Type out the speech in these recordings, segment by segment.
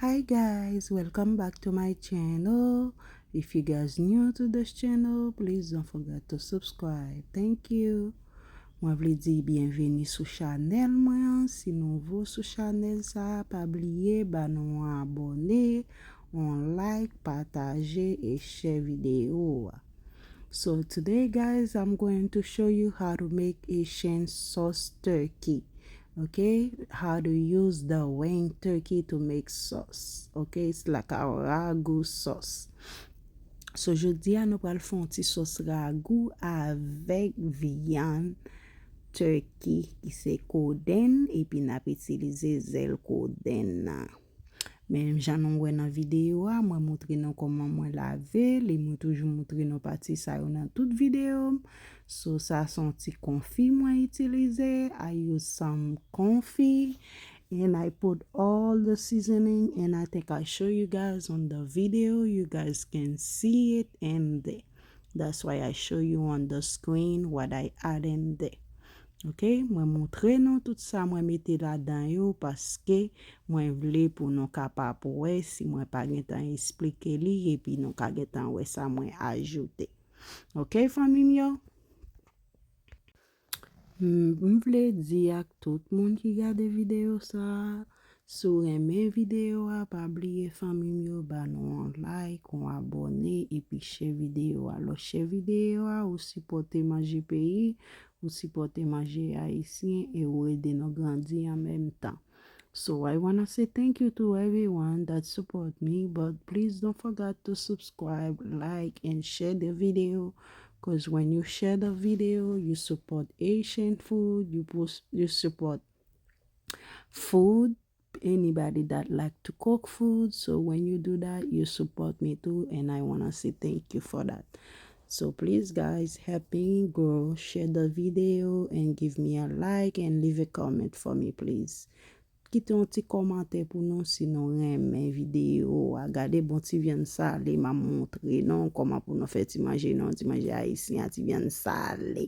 Hi guys welcome back to my channel if you guys new to this channel please don't forget to subscribe thank you mwen vle di byenveni sou chanel mwen an si nouvo sou chanel sa pa bliye ba nou an abone on like pataje e share video a so today guys I'm going to show you how to make Haitian sauce turkey Ok how to use the wing turkey to make sauce ok it's like a ragou sauce so jodi a nou pral fè yon ti sauce ragou avèk vyann turkey ki se kodenn epi nap itilize zèl kodenn nan. Menm jan nou wè nan videyo a, mwen moutre nou kòman mwen lave l e mwen toujou moutre nou pati sa yo nan tout videyo m. So sa se yon ti konfi mwen itilize, I use some konfi and I put all the seasoning and I think I show you guys on the video, you guys can see it in there. That's why I show you on the screen what I add in there. Ok mwen moutre nou tout sa mwen mete ladan yo paske mwen vle pou nou kapap wè si mwen pa gentan esplike li epi nou ka gentan wè sa mwen ajoute ok fanmim yo. M vle di ak tout moun ki gade video sa. Si w renmen video a pa bliye fanmi m yo ba nou on like on abone epi share video a lè w share video a ou sipòte manje peyi ou sipòte manje ayisyen e ou ede nou grandi an menm tan so I wanna say thank you to everyone that support me but please don't forgot to subscribe like and share the video cause when you share the video you support Haitian food you support food anybody that like to cook food so when you do that you support me too and I wanna say thank you for that so please guys help me grow share the video and give me a like and leave a comment for me please kite yon ti kòmantè pou nou si nou renmen video a gade bon ti vyann sale map montre nou kòman pou nou fè ti manje nou ti manje ayisyen a ti vyann sale.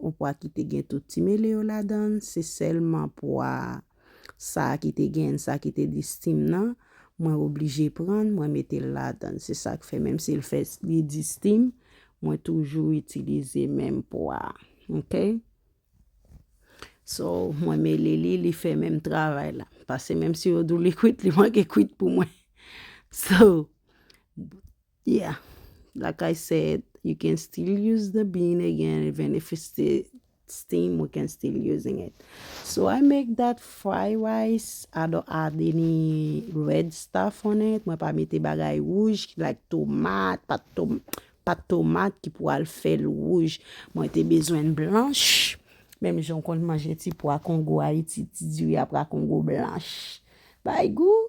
On pwa ki te gen tout ti mele yo ladan l, se sèlman pwa sa a ki te gen sa ki te di steam nan, mwen oblije pran l, mwen mete l ladan l. Se sa k fè menm si l fè li di steam, mwen toujou itilize menm pwa a. Ok. So, mwen mele li, li fè menm travay la. Pase menm si yo di w li kwit, li manke kwit pou mwen. So, Yeah like I said you can still use the bean again even if it's still steam we can still using it so I make that fry rice I don't add any red stuff on it mwen pa mete bagay wouj like tomat pat tom pat tomat ki pou al fèl wouj mwen te bezwen blanch Menm jan w konn manje ti pwa kongo Ayiti, ti diri a pwa kongo blanch. Bay gou.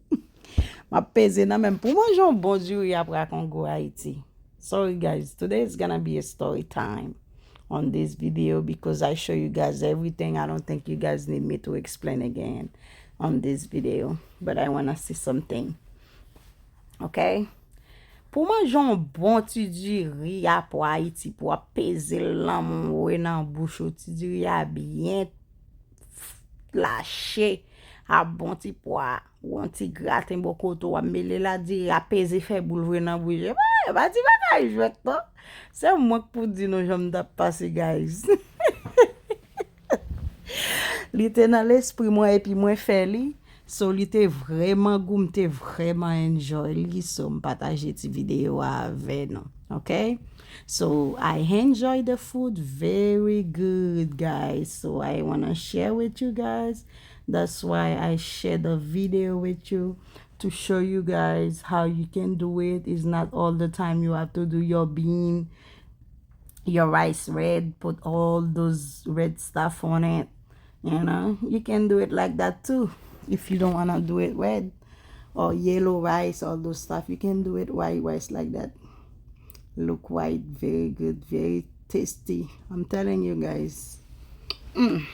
Map peze nan menm pou manje yon bon diri apra kongo Haiti. Sorry guys, today is gonna be a story time on this video because I show you guys everything. I don't think you guys need me to explain again on this video. But I wanna see something. Ok? Pou manje yon bon ti diri apra Haiti pou ap peze lanm ou e nan bouch ou ti diri a byen lache a bon ti pwa ou an ti graten bon kote ou a mele la diri a peze fè boul vre nan bouche. Mwen e pa ti bagay jwèt non. Se mwen k pou di nou jan m tap pase guys. Li te nan lespri mwen epi mwen fè li. So li te vreman gou m te vreman enjoy li so m pataje ti video a avè nou ok so I enjoy the food very good guys so I wanna share with you guys that's why I share the video with you to show you guys how you can do it is not all the time you have to do your bean your rice red put all those red stuff on it You know, you can do it like that too, if you don't wanna do it red or yellow rice, all those stuff, you can do it white rice like that. Look white, very good, very tasty. I'm telling you guys. Mm.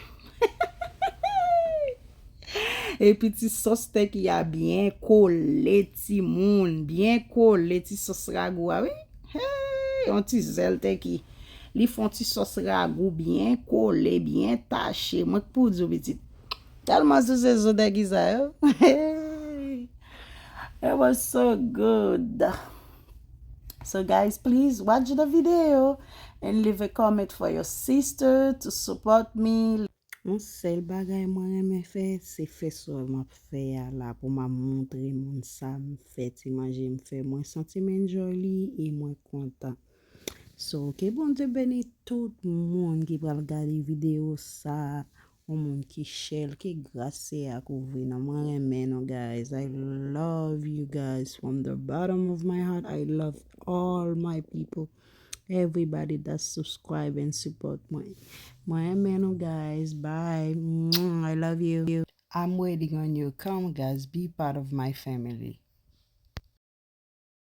E pi ti sos stek ya byen kole ti moun, byen kole ti sos ragou a wi. Hey, yon ti zel teki. Li fon ti sòs ragou byen kole, byen tache. Mwen k pou di w pitit. Tèlman sou se zo degiza yo. It was so good. So guys please watch the video and leave a comment for your sister to support me. Yon sèl bagay mwen renmen fè se fè sa m ap fè a la pou m a montre moun sa m fè ti manje m fè. Mwen santi m enjoy li e mwen kontan. So ke Bondye beni tout moun ki pral gade video sa ou moun ki chèl ke gras se a kouvri nou mwen renmen nou guys I love you guys from the bottom of my heart I love all my people everybody that subscribe and support mwen mwen renmen nou guys bye I love you I'm waiting on you come guys be part of my family.